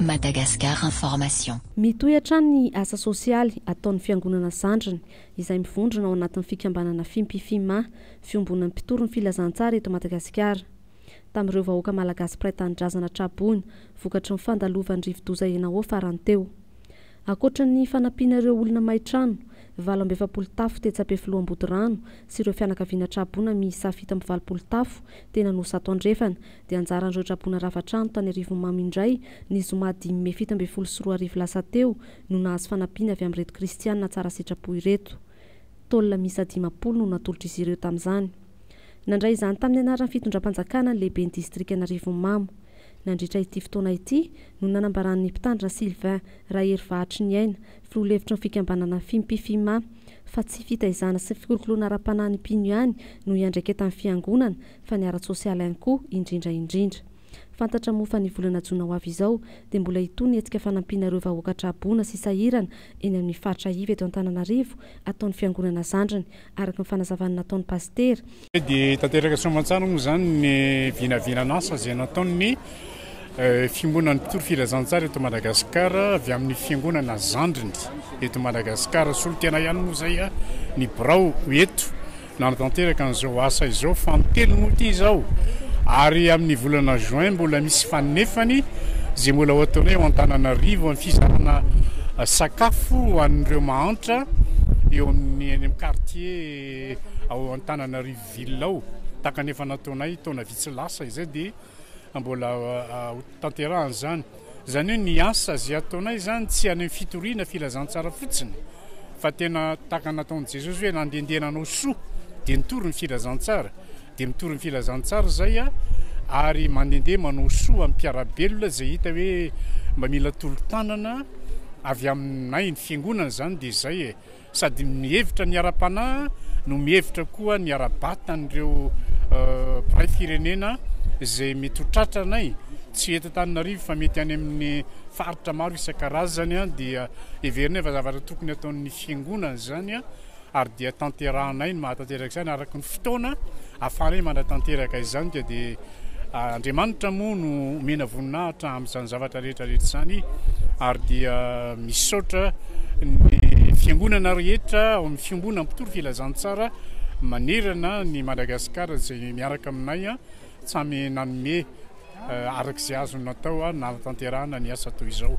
Madagascar Information. Mitohy hatrany ny asa sosialy ataon'ny Fiangonana zandriny izay mivondrona ao anatin'ny fikambanana Fimpi-Fima, Fiombonan'ny mpitory ny filazantsara eto Madagasikara. tamin'ireo vahoaka malagasy mpiray tanindrazana tra-boina vokatry ny fandalovan'ny rivodoza Enawo farany teo. Ankoatra ny fanampiana ireo olona may trano, valo amby efapolo tafo tetsy Ampefiloha Ambodirano sy ireo fianakaviana tra-boina miisa fito amby valopolo tafo tena no zato andrefana dia anjaran'ireo tra-boina rava trano tany Arivonimamo indray ny zoma dimy mey fito ambin'ny folo sy roa arivo lasa teo no nahazo fanampiana avy amin'ireto kristiana tsara sitrapo ireto. Taolana miisa dimampolo no natolotr'izy ireo tamin'izany. Nandray izany tamin'ny anaran'ny fitondram-panjakana ny lehiben'ny distrikan'Arivonimamo. Nandritra ity fotoana ity no nanambaran'ny Mpitandrina Sylvain Raherivahatriniaina, filoha lefitry ny fikambanana Fimpi-Fima, fa tsy fitaizana sy fikolokoloana ara-panahy ny mpino ihany no iandraiketan'ny Fiangonana fa ny ara-tsosialy ihany koa indrindra indrindra. Fantatra moa fa ny volana jona ho avy izao dia mbola hitohy ny hetsika fanampiana ireo vahoaka traboina sy sahirana eny amin'ny faritra iva eto Antananarivo ataon'ny fiangonana zandriny, araka ny fanazavan'ny nataon'ny pasitera. Tsy dia tanteraka soamantsara moa izany ny vinavinan'asa izay nataon'ny Fiangonan'ny Mpitory Filazantsara eto Madagasikara avy amin'ny fiangonana zandriny eto Madagasikara. Solontenay ihany moa izay ny birao eto. Nanatanteraka an'izao asa izao fanintelony moa ity izao ary amin'ny volana juin mbola misy fanefany izay mbola ho ataonay ao Antananarivo amin'ny fizarana sakafo ho an'ireo mahantra eo amin'ny eny amin'ny quartier ao Antananarivo ville ao tahaka ny efa nataonay taona vitsy lasa izay dia mbola ho tanterahana izany. Izany hoe ny asa izay ataonay izany tsy any amin'ny fitoriana filazantsara fotsiny fa tena tahaka ny nataon'i Jesosy hoe nandehandeha nanao soa dia nitory ny filazantsara dia mitory ny filazantsara izay aho ary mandehandeha manao soa amin'ny mpiara-belona izay hita hoe mba mila tolo-tanana avy aminay ny fiangonana izany dia izay e. Sady mihevitra ny ara-panahy no mihevitra koa ny ara-batan'ireo mpiray firenena izay mety ho tratranay, tsy eto Antananarivo fa mety any amin'ny faritra maro isan-karazany, dia heverinay fa zavatra tokony ataon'ny fiangonana izany ary dia tanterahanay ny mahatanteraka izany araka ny fotoana ahafahanay manatanteraka izany dia Andriamanitra moa no omena voninahitra amin'izany zavatra rehetra rehetra izany ary dia misaotra ny fiangonana rehetra ao amin'ny fiombona mpitory filazantsara manerana ny Madagasikara izay miaraka aminay samy nanome araka izay azony natao nahatanterahana ny asa toy izao.